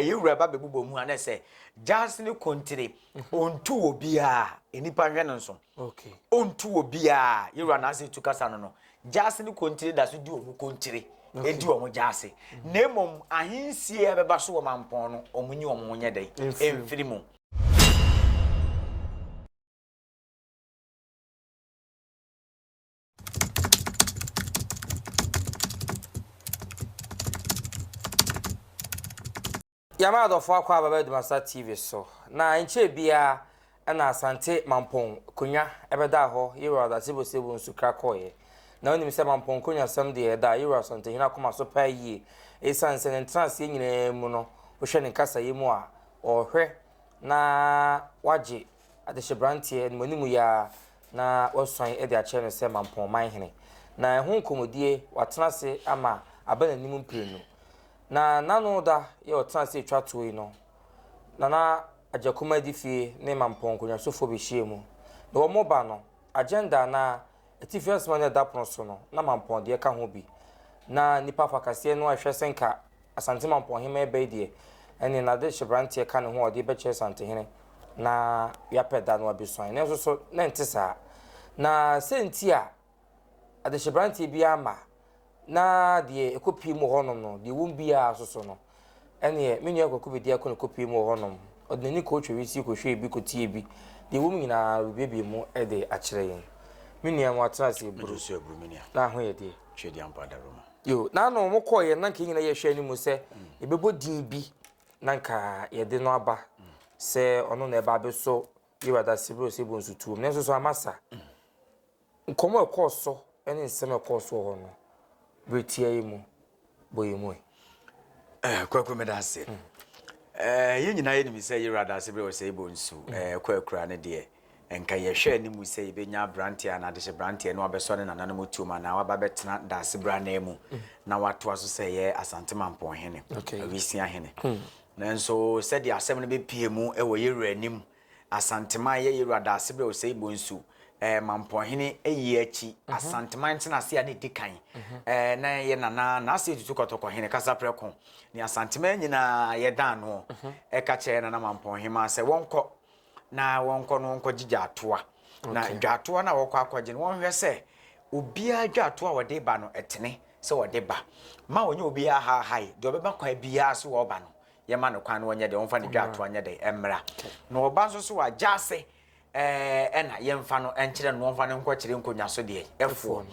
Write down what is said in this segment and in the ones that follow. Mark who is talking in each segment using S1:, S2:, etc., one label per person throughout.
S1: Eyi wura ba bɛbobɔ mu a na ɛsɛ Gyas ne kontire. Ɔntu wɔ biaa, nnipa nhwɛ no nso. Ɔntu
S2: wɔ biaa,
S1: yɛwura n'ase etu kasa no no. Gyas ne kontire da so di wɔn kontire, ɛdi wɔn gyase. Na mmom ahensie a ɛbɛba so wɔ mampɔn no, wɔn nyi wɔn ho nyɛ dɛn? Ɛmfiri mu.
S2: Yɛama adɔfoɔ akɔ aba bɛdom asa TV so na nkyɛɛ biara ɛna Asante Mampɔn konwa ɛbɛdaa hɔ Yewura ɔda sebosebo nsu kra kɔɔeɛ na wonim sɛ Mampɔn konwa sɛm deɛ ɛda Yewura Asantehene akoma so paa yie ɛsiane sɛ ne ntenaseɛ nyinaa mu no wohwɛ ne nkasayɛ mu a ɔrehwɛ na wagye Adehyeberanteɛ, animuanimu yi ara na wɔasuan de akyerɛ no sɛ Mampɔn Manhene, na ɛho nkɔmmɔdie watena ase ama aba n'anim mprenu. Na n'ano da yɛ ɔtena ase twa toɔ yi no, Nana Agyakum Adifie ne Mampɔn nkɔnwasofoɔ bɛhyia mu. Na wɔn ba no, agenda anaa atifi asɛm a na ɛda pono so no, na Mampɔn deɛ ka ho bi. Na nnipa afakaseɛ no a ɛhwɛ sɛ nka Asante Mampɔn Ɔhemmaa Bey deɛ, ɛnneɛ n'ade hyɛ aberanteɛ ka ne ho a ɔde bɛkyerɛ Asantehene na yɛapɛ da no abɛsuan. Nanso so na ɛnte saa? Na sɛ nti a adehyɛberanteɛ biara mma na deɛ ɛkɔpie mu wɔ hɔnom no, deɛ wɔm biara so so no, ɛnneɛ me nua Kwaku Bedi Ako na ɛkɔpie mu wɔ hɔnom. Ɔde n'ani kɔtwe wisie kɔhwɛɛ bi kɔtiee bi. Deɛ wɔm nyinaa wɔbiebie mu de akyerɛ yɛn. Me nua, moatena ase aburu na
S1: ahoyɛdeɛ. Yo, na na wɔn kɔɔ
S2: yɛn na nka nyina yɛhwɛ anim sɛ yɛbɛbɔ din bi na nka yɛde no aba sɛ ɔno na ɛba abɛsɔ Yewa Dasebro sɛ bɔ nsutuom nanso so ama sa nkɔmmɔ ɛkɔɔ so ne nsɛm ɛkɔɔ so hɔ no berɛ tia yi mu bɔ yɛ mu ɛ
S1: eh, kwaku meda ase mm. eh, yɛn nyinaa yɛnim sɛ Yewa Dasebro sɛ bɔ nsu mm. eh, kwakura ne deɛ Nka yɛhwɛ anim sɛ yebenya aberante anaa adehyebranteɛ na wabɛsɔ ne nananom tuom anaa waba abɛtena daase bere anan mu na watoa so sɛ ɛyɛ Asante Mampɔn hene, Awisia hene. Nanso sɛdeɛ asɛm no bɛpue mu wɔ yɛn wura anim, Asanteman ɛyɛ yɛn wura Daasebrɛ Osei Bonsu eh, Mampɔn hene ɛyi akyi, Asanteman ntenase a na ɛdi kan eh, na ɛyɛ Nana Nase Tutu Kɔtɔkɔ hene Kasaprɛko ne Asanteman nyinaa yɛdan noɔ ɛka kyerɛ Nana Mampɔn hema sɛ wɔnkɔ na wɔnkɔ no wɔnkɔgye dwaatoa na dwaatoa no a wɔkɔ akɔgye no wɔnhwɛ sɛ obiara dwaatoa a wɔde ba no ɛtene sɛ wɔde ba ma wɔnyɛ obiara haahae deɛ ɔbɛba kwan biara so wɔba no yɛma no kwan no wɔnyɛ deɛ wɔmfa ne dwaatoa nyɛ deɛ ɛmmra na wɔba nso so a gyaase ɛna yɛmfa no nkyerɛ no wɔmfa no nkɔkyerɛ nkonnwa so deɛ ɛfoɔ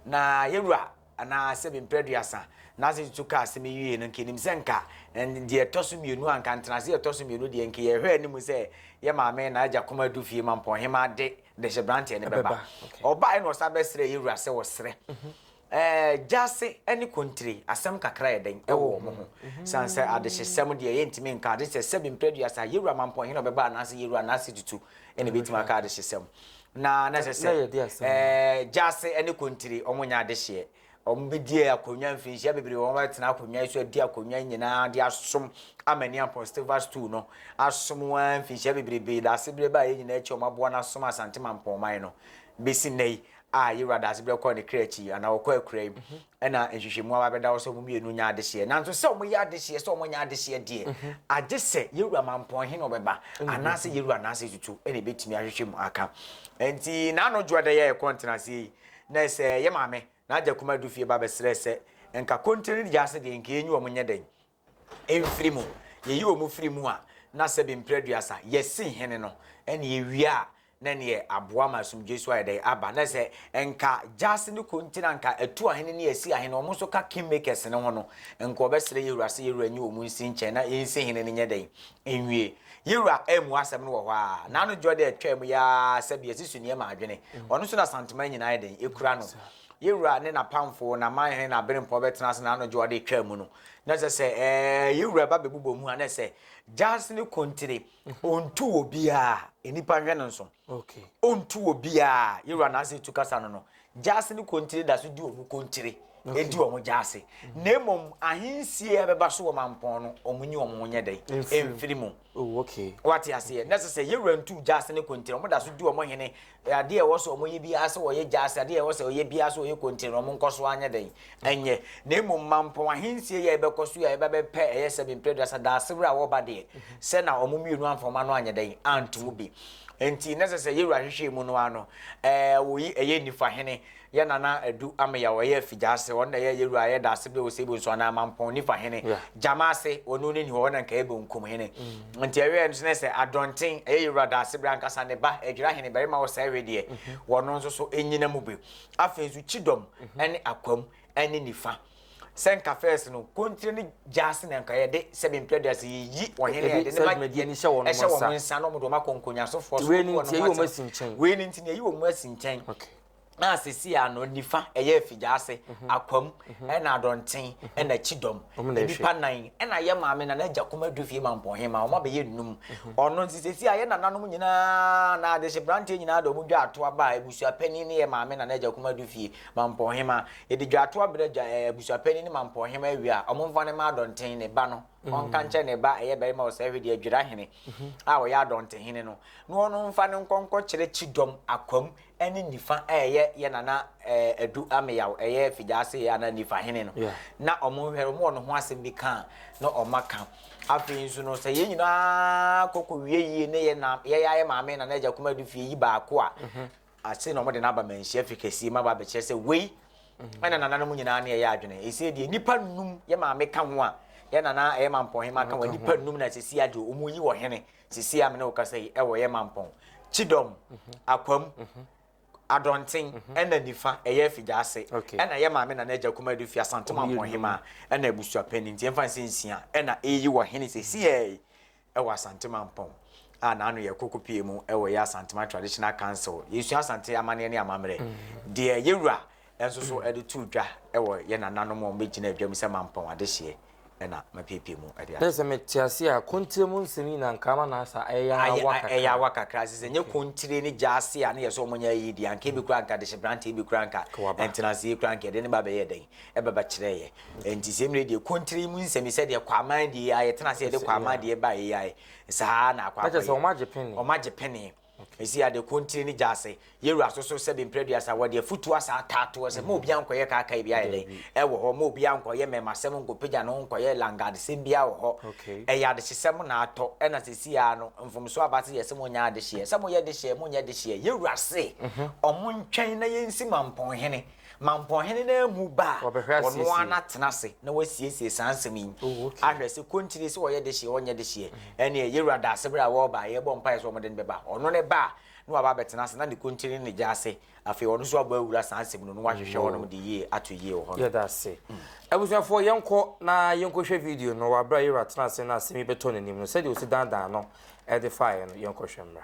S1: na yɛwura anaa sɛ mprɛ aduasa, Nancy tutu kaa asɛm yi wiei no, nka yenim sɛ nka deɛ ɛtɔ so mmienu anka ntenase ɛtɔ so mmienu deɛ nka yɛhwɛ anim sɛ yɛ maame na agya kɔma adu fie ma mpɔnhemaa de dehyebranteɛ no bɛba. Ɔbaeɛ na ɔsan bɛsrɛɛ yɛ wura sɛ wɔsrɛ gyase ne kontire asɛm kakra yɛ dɛn ɛwɔ wɔn ho. San sɛ adehyesɛm deɛ yɛntumi nka ade sɛ sɛ mprɛ aduasa yɛ wura ma mpɔnhene ɔbɛba anaasɛ yɛ wura Nancy tutu ɛna ɛbɛtumi aka adehyesɛm. Na na ɛsɛ sɛ gyaase ne kontiri wɔn nyɛ adehyeɛ. Wɔn bɛdie akonnwa mfinhyia bebree wɔn bɛtena akonnwa yi so adi akonnwa nyinaa de asom amani aposteva stool no asom wɔn mfinhyia bebrebe da asebrɛ baa yɛn nyinaa akyi wɔn aboa no asom asante mampɔnman no bɛsi nnɛ yi a yɛwura da asebrɛ kɔɔ ne kra akyi anaa wɔkɔ akura yi Ɛna nhwehwɛmu aba bɛda hɔ sɛ wɔn mmienu nyɛ adehyeɛ. Nanso sɛ wɔyɛ adehyeɛ sɛ wɔnyɛ adehyeɛ deɛ, mhm. agye sɛ yɛwura mampɔn he na ɔbɛba anaasɛ yɛwura anaasɛ tutu ɛna ɛbɛtumi ahwehwɛ mu aka. Nti n'ano dwoɔ dɛ yɛyɛ kɔ ntenaseɛ yi na sɛ yɛ maame na agya kuma du fie ba bɛsrɛ sɛ nka kontene gyaase deɛ nka yɛnyi wɔn nyɛ dɛn mfiri mu, yɛyi wɔn firi mu a, na sɛbe mprɛ aduasa, yɛsi hene no, ɛna yɛwie a, na ɛneɛ aboa ma asomdwoeɛ so ayɛ dɛn, aba. Na sɛ nka gyaase no kɔ nti na nka atu ahene ne asi ahene, wɔn nso ka kingmakers no ho no, nka wɔbɛsrɛ yɛwura sɛ yɛwura nyi wɔn nsi nkyɛn na yɛnsi hene no nyɛ dɛn, nwie. Yɛwura ammua asɛm no wɔ hɔ ara, n'ano dwoɔ dɛ ɛtwaa mu yi ara sɛbe yɛsi suneɛ ma adwene, ɔno nso na Asantehene nyinaa ayɛ dɛn, ɛkura no. Ye Wura ne n'apamfo, na man he na bere mpo ɔbɛtena ase na anɔdwo a ɔde retwaa mu no, na ɛsɛ sɛ ɛɛ ye Wura ba bɛbobɔ mu a, na ɛsɛ Gyahse ne Kontire, ontu wɔ biaa, nnipa nhwɛ no nso, ontu wɔ biaa, ye Wura na ase tu kasa no no, Gyahse ne Kontire da so di wɔn Kontire, edi wɔn Gyahse, na mmom ahensie a ɛbɛba so wɔ mampɔn no, wɔn nyi wɔn ho nyɛ dɛn? Emfiri mu. Wate
S2: aseɛ? Na ɛsɛ
S1: sɛ ye Wura ntu Gyahse ne Kontire, wɔn da so di wɔn hene Yɛ adeɛ a ɛwɔ sɛ wɔyɛ biara sɛ wɔyɛ gyaase, adeɛ a ɛwɔ sɛ wɔyɛ biara sɛ wɔyɛ kontee no, wɔnkɔ so anyɛ dɛn? Ɛnyɛ. Na mmom mampɔn ahensie yi a yɛbɛkɔ so yi a yɛba bɛpɛ ɛyɛ sɛ me mprɛduasa Daasebrɛ a wɔba deɛ, sɛ na wɔn mmienu amfa wɔn ano anyɛ dɛn? Anto bi. Enti na ɛsɛ sɛ Yewura hwehwɛ mu no ara no, ɛɛ, wɔyi ɛyɛ Nifahene Yɛ Nana Adu Ameyaw ɔyɛ Afigyaase, ɔno na ɛyɛ yɛ Wura yɛ Daase bɛ Osei Bonsu anaa Mampɔn Nifa hene, Gyamaase, ɔno ne ni hɔ, ɔna nka yɛ Bonkum hene. Nti ɛwɛɛ no so na sɛ Adɔnten, ɛyɛ yɛ Wura Daase bere ankasa ne ba, Adwira hene barima wɔ saa ɛwɛ deɛ, wɔno nso so ɛnyina mu bi. Afei nso Kyidɔm ɛne Akwam ɛne Nifa. Sɛ nka first no, Kontire ne Gyaase na nka yɛ de, sɛ bɛ mpira Gyaase yɛ yi wɔn hene yɛ de ne ba yɛ hyɛ wɔn
S2: nsa na wɔn de wɔn
S1: akɔ Nkonyasofoɔ so, wei ne nti yɛ yi wɔn asi
S2: nkyɛn. Wei ne nti yɛ yi wɔn
S1: asi nkyɛn. na
S2: sisi a
S1: no nifa ɛyɛ afigyaase mhm. akwam mhm. ɛna adɔnten mhm. ɛna kyidɔm nipa nan ɛna yɛ maame na n'agya kuma du fie ma mpɔnhe ma wɔn abɛyɛ num ɔno nti sisi a yɛ nananom nyinaa na adehye branteɛ nyinaa de wɔn dwa ato aba a abusua panyin ne yɛ maame na n'agya kuma du fie ma mpɔnhe ma yɛde dwa ato abira dwa ɛɛ abusua panyin ne ma mpɔnhe ma awia wɔn nfa ne ma adɔnten ne ba no ɔnka nkyɛn ne ba ɛyɛ barima ɔsɛ ɛhwɛ deɛ adwira hene a ɔyɛ adɔnten hene no na ɔno nfa ne nkɔnkɔ kyerɛ kyidɔm akwam ne nifa a ɛyɛ yɛ nana ɛɛ adu ameyaw ɛyɛ figyaase ana nifa hene no na ɔmo nhwɛ ɔmo wɔ ne ho asɛm bi ka na ɔmo aka afei nso no sɛ yɛn nyinaa kɔkɔ wie yie ne yɛ na yɛ yɛ maame nana agya kuma du fie yi baako a mhm. ase na ɔmo de n'aba manhyia fi kɛseɛ ma ba abɛkyerɛ sɛ wei mhm. ɛna nana no mu nyinaa ne ɛyɛ adwene ɛsɛ deɛ nipa num yɛ maame ka ho a yɛ nana ɛyɛ mampɔn hema ka ho nipa num na sisi adeɛ ɔmo yi wɔ hene. Mm -hmm. Sisi a me ne wo kasa yi, ɛwɔ yɛ mampɔn, Kyidɔm, Akwam, Adɔnten, ɛna nifa, ɛyɛ Afigya ase, ɛna yɛ maame Nana Agya Kumadi fi Asante Mampɔn Hemaa, ɛna abusua panin nti yɛmfa no sɛ nsia, ɛna eyi wɔ hene sesiɛi ɛwɔ Asante Mampɔn a n'ano yɛ Kokopie mu ɛwɔ yɛ Asantema Traditional Council. Yɛsua Asante amanneɛ ne amammerɛ deɛ yɛwura nso so de too dwa wɔ yɛn nananom a wɔbɛgyinaa dwam sɛ mampɔn adehyeɛ na mapiepie mu de ade. Sɛ mete ase a,
S2: kontire mu nsɛm yi na anka ama n'asa ayɛ awa kakra. Ayɛ awa
S1: kakra, sɛ sɛ nyɛ kontire ne gya ase a na yɛ sɛ wɔn nyɛ ayie deɛ, anka ebi koraa anka adehyeberanteɛ bi koraa anka ntenaseɛ koraa anka yɛde no ba bɛyɛɛ dɛn? Ɛbɛba kyerɛɛ yɛ. Enti sɛ mmerɛ deɛ kontire yi mu nsɛm yi sɛdeɛ Kwaaman deɛ yi a yɛtena ase yɛde Kwaaman deɛ baeɛ yi ara saa ara na akɔ akɔyɛ. Na kyerɛ sɛ wɔn agye pene. Wɔn
S2: agye pene. Esi ade ko ntini ne gya ase.
S1: Yɛn wura so so sɛbe mpre aduasa wɔ de afutu asa ata ato hɔ sɛ mma obiara nkɔ yɛ kaakaa biara yɛ dɛn ɛwɔ hɔ, mma obiara nkɔ yɛ mmɛɛmasɛm nkɔ pagya ne ho nkɔ yɛ langadesɛm biara wɔ hɔ. Ɛyɛ adehyesɛm na atɔ ɛna sɛsi ara no mfomsoɔ aba se yɛse mo nyɛ adehyeɛ sɛ mo yɛ dehyeɛ mo nyɛ dehyeɛ. Yɛn wura se ɔmo ntwɛn na yɛn si mampɔn hene. Ma mpɔhene no amu ba a, ɔno ara na tena ase na wasiesie saa nsɛm yi ahwɛ sɛ konkyire sɛ ɔyɛ dehyeɛ ɔnyɛ dehyeɛ ɛneɛ yɛwura da ase berɛ a wɔreba a yɛbɔ mpaeɛ sɛ ɔmode no bɛba ɔno ne ba a na waba bɛtena ase na ne konkyire ne ne gya ase afei ɔno nso abɔ awura saa nsɛm no na wahwehwɛ hɔnom de yie ato yie wɔ hɔ yɛda ase
S2: abusuafoɔ yɛnkɔ na yɛnkɔhwɛ video no wɔ aberɛ a yɛwura tena ase na asɛm yi bɛtɔ n'anim no sɛdeɛ ɔsi dandan no ɛde faeɛ no yɛnkɔhwɛ mmra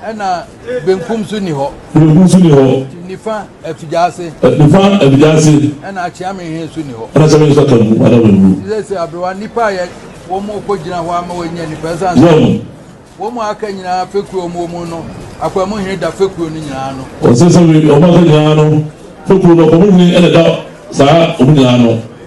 S3: Ɛna
S4: benkum so ni hɔ. Benkum so ni hɔ. Nifa afigya ase. Nifa afigya ase. Ɛna akyea me hɛn so ni hɔ. Ɛna sɛ me nso aka mu ana
S3: wɔn mu. Sɛ sɛ aberewa nipa a yɛ
S4: wɔn mu kɔ gyina hɔ ama wɔn nyɛ nipa ɛsan. Wɔn. Wɔn mu aka nyinaa fekuo wɔn mu no akwamu hene da fekuo no nyinaa no. Wɔn sɛ sɛ wɔn aka
S3: nyinaa no fekuo no akwamu hene ɛna da saa wɔn nyinaa no.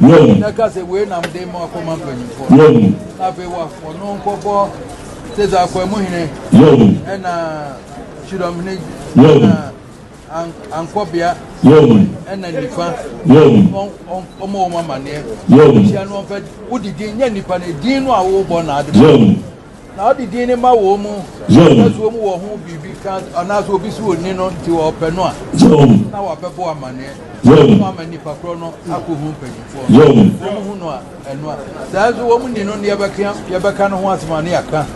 S4: Wɔn. Na ɛka sɛ wei nam de ma ɔkɔma mpanyinfoɔ. Wɔn. Na afei wa ɔno nkɔbɔ sɛsɛ akwamu hene. Wɔn. Ɛna kyerɛm hene. Wɔn. Ɛna ankɔbea. Wɔn. Ɛna nifa. Wɔn. Ɔmo wɔn amaneɛ. Wɔn. Hyia no ɔmpɛ wodi din nyɛ nipa ne din no a wɔbɔ na adi. Wɔn. Na ɔde din no ma wɔn mu, na so wɔn wɔ ho biribi ka anaasɛ obi so onni no nti wɔpɛ no a, na wɔabɛbɔ amanneɛ. Wɔn ama nipa korɔ no akɔhu mpanyinfoɔ no. Wɔn hu no a, ɛno a. Saa nso wɔn ni no ne yɛbɛka yɛbɛka no ho asɛm a ne yɛaka.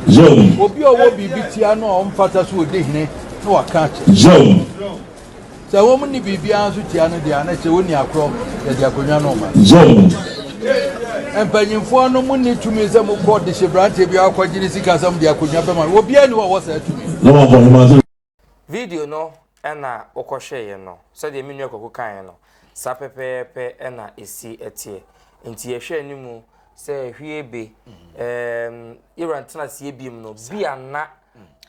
S4: Obi a ɔwɔ biribi tia no a ɔmfata so ɔdi hene na waka akyɛ. Sɛ wɔnni biribiara nso tia no deɛ a, na ɛkyerɛ wɔnni akorɔ, yɛde akonnwa no rema. Yɛn. Mpanimfoɔ no monni tumi sɛ mokɔ dehyeberanteɛ biara kɔgye ne sika sɛ mode akonnwa bɛma no. Obiara nni hɔ a ɔwɔ saa tumi no. Na wɔabɔ hema sɛ. Video
S2: no na wokɔhwɛeɛ no, sɛdeɛ me nua Kwaku kaeɛ no, saa pɛpɛɛpɛ na ɛsi teɛ. Nti yɛhwɛ anim sɛ hwie be, ɛɛm, Iran tena aseɛ biom no, bi a na.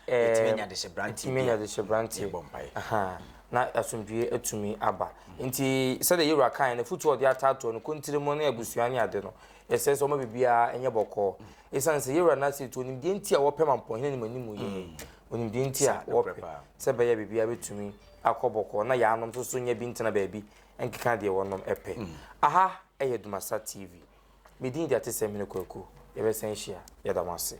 S2: yɛtumi anya adehyeberanteɛ bi a yɛbɔ mpaeɛ na asomdwie atumi aba nti sɛdeɛ yɛwura kae no afotuo ɔde ataatoɔ no kontiri mu ne abusua ne ade no ɛsɛ sɛ ɔma biribiara ɛnyɛ bɔkɔɔ ɛsiane sɛ yɛwura no ase nti onimdeɛ nti a wɔpɛ ma mpɔhene ne manimu yɛ mm. onimdeɛ nti a wɔpɛ sɛ bɛyɛ biribiara bɛtumi akɔ bɔkɔɔ na yɛanom nso so nya bi ntena baabi nkeka deɛ wɔnom ɛpɛ mm. aha ɛyɛ Dumasa TV Me din de Atesɛm Hene Kwaku. Yɛbɛsan ahyia. Yɛda mo ase.